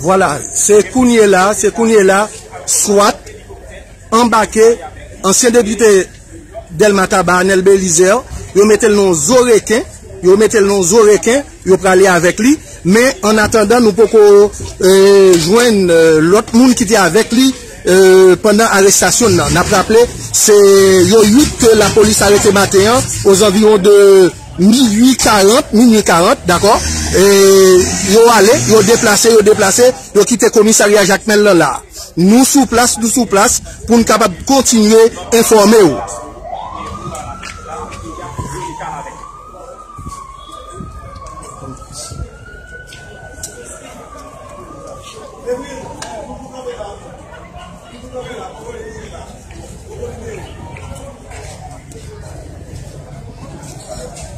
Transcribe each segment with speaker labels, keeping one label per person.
Speaker 1: Vwala, se kounye la, se kounye la, swat, anbake, ansyen depite Delma Taba Anel Belizaire yo metel nan yon zo reken yo metel nan yon zo reken yo prale avek li men an atandan nou poko jwenn lot moun ki te avek li pandan arestasyon nan nap raple se yo 8 ke la polis arete maten an ozanviron de minwi 40 minwi 40 dako yo ale yo deplase yo deplase yo kite komisarya jakmel nan la. Nou sou plas, nou sou plas pou n kapab kontinye enfòme w.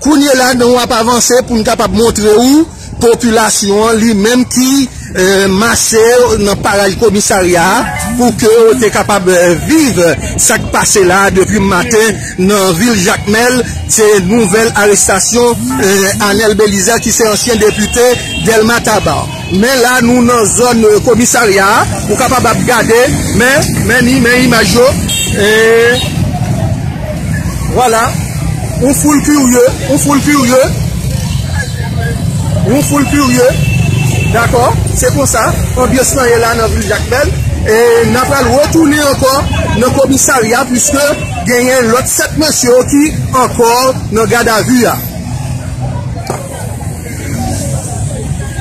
Speaker 1: Kounye la nou ap avanse pou nou kapab montre ou popilasyon an li menm ki euh, mache nan paraj komisarya pou ke ou te kapab euh, viv sak pase la depi maten nan vil Jakmel se nouvel arestasyon euh, Anel Belize ki se ansyen depite Delma Tabar. Men la nou nan zòn komisarya a, ou kapab ap gade, men, men ni, men imaj yo, e, vwala, yon foul kirye, yon foul kirye, yon foul kirye, dakò, se konsa, anbyans lan ye la nan vil Jakmèl, e, nan pral retounen ankò nan komisarya, pwiske genyen lòt 7 mesye yo ki ankò nan gadavi a.